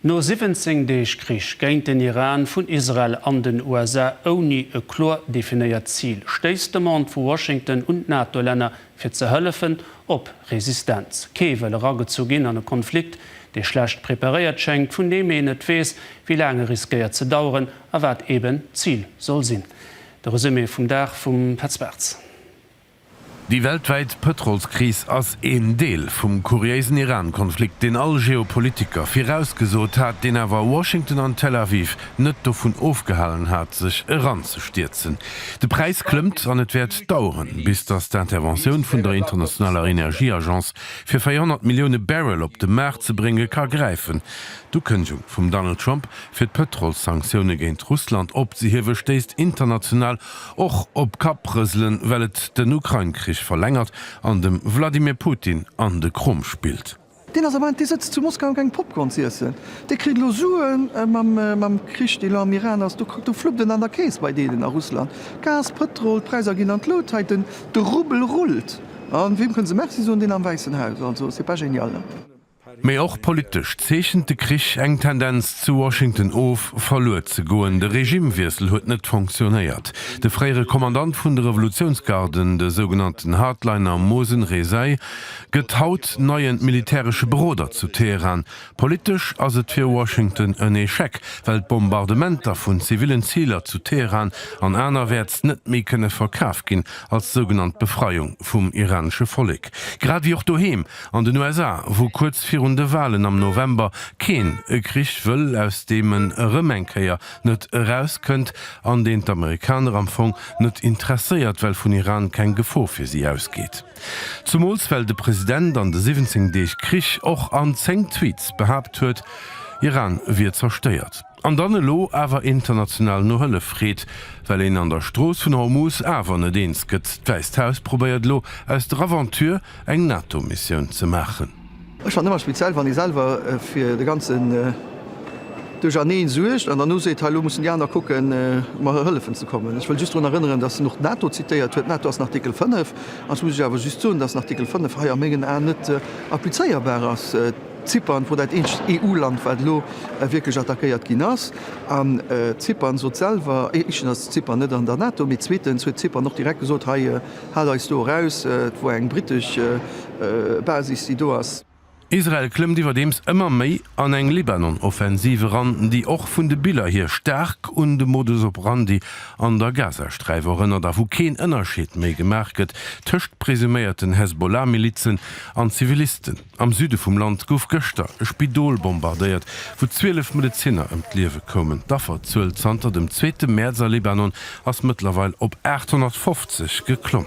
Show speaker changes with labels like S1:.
S1: No 17 Deeg Krich géint den Iran vun Israel an den USA ouni e kloer definéiert Zil, stéisst d'Demande vu Washington un d'NATO-Länner fir ze hëllefen, op Resistenz. Kee wëll eragezu ginn an e Konflikt, dee schlecht preparéiert schéngt, vun deem een net weess, wéi laang e riskéiert ze daueren a wat eeben d'Zil soll sinn. De Resumé vum Dag vum Petz Bartz.
S2: Déi weltwäit Pëtrolskris ass een Deel vum kuriéisen Iran-Konflikt, deen all Geopolitiker virausgesot hat, deen awer Washington an Tel Aviv net dovun ofgehalen hat, sech eranzestierzen. De Präis klëmmt an et wäert daueren, bis datt d'Interventioun vun der internationaler Energieagence, fir 400 Millioune Barrel op de Maart ze bréngen, ka gräifen. D'Ukënnegung vum Donald Trump, fir d'Pëtrolssanktioune géint Russland opzehiewe, stéisst international Och op Kapprëselen, well et den Ukrain-Krich verlängert an dem Wladimir Putin an de Krumm spillt. Deen ass am Moment, dee
S3: sëtzt zu Moskau eng Popcorn z'iessen, dee kritt elo Suen mam Krich, dee lo am Iran ass, do fluppt en an der Keess bei deenen a Russland, Gas, Pëtrol, d'Präisser ginn an d'Lut, hei de Rubel rullt, a wiem kënne se Merci soen? Deen am Wäissen Haus, also c'est pas génial. Mee och
S2: politesch zeechent de Krich eng Tendenz zu Washington of, verluer ze goen. De Regimewiessel huet net fonctionnéiert. De fréiere Kommandant vun de Revolutiounsgarden, de sougenannten Hardliner Mohsen Rezaei, gëtt haut neien militäresche Beroder zu Teheran. Politesch ass et fir Washington en Echec, well d'Bombardementer vun zivillen Ziler zu Teheran an anerwäerts net méi kënne verkaf ginn als sougenannt Befreiung vum iranesche Vollek, grad ewéi och doheem An den USA, wou kuerz virun de Walen am November keen e Krich wëll, aus deem en erëm eng Kéier net erauskënnt, an deen d'Amerikaner am Fong net interesséiert, well vun Iran keng Gefor fir si ausgeet. Zumools well de President an de 17 Deeg Krich och an 10 Tweets behaapt huet, Iran wier zerstéiert. An dann elo awer international no Hëllef freet, well een an der Strooss vun Hormus awer net eens gëtt. D'Wäisst Haus probéiert elo, aus der Aventure eng NATO-Missioun ze maachen. Ech fannen ëmmer
S3: speziell, wann ee selwer fir de ganzen Duercherneen suergt an dann elo seet, hei elo mussen déi aner kucken, mer hëllefen ze kommen. Ech wëll just drun erënneren, datt en och d'NATO zitéiert huet. D'NATO ass den Artikel 5, an ech muss lech awer just soen, datt den Artikel 5 hei a mengen Aen net applizéierbar ass. Zypern wor dat eenzegt EU-Land wat elo wierklech attackéiert ginn ass. An Zypern sot selwer, éischtens ass Zypern net an der NATO, mee zweetens huet Zypern och direkt gesot, hei haalt eis do eraus, et wor eng brittesch Basis déi do ass. Israel klëmmt
S2: iwwerdeems ëmmer méi an eng Libanon-Offensiv eran, déi och vun de Biller hier staark un de Modus operandi an der Gazasträif erënnert a wou keen Ënnerscheed méi gemaach gëtt tëscht presuméierten Hezbollah-Milizen an Zivilisten. Am Süde vum Land gouf gëschter e Spidol bombardéiert, wou 12 Medezinner ëm d'Liewe koumen. D'Afferzuel zanter dem zweete Mäerz a Libanon ass mëttlerweil op 850 geklomm.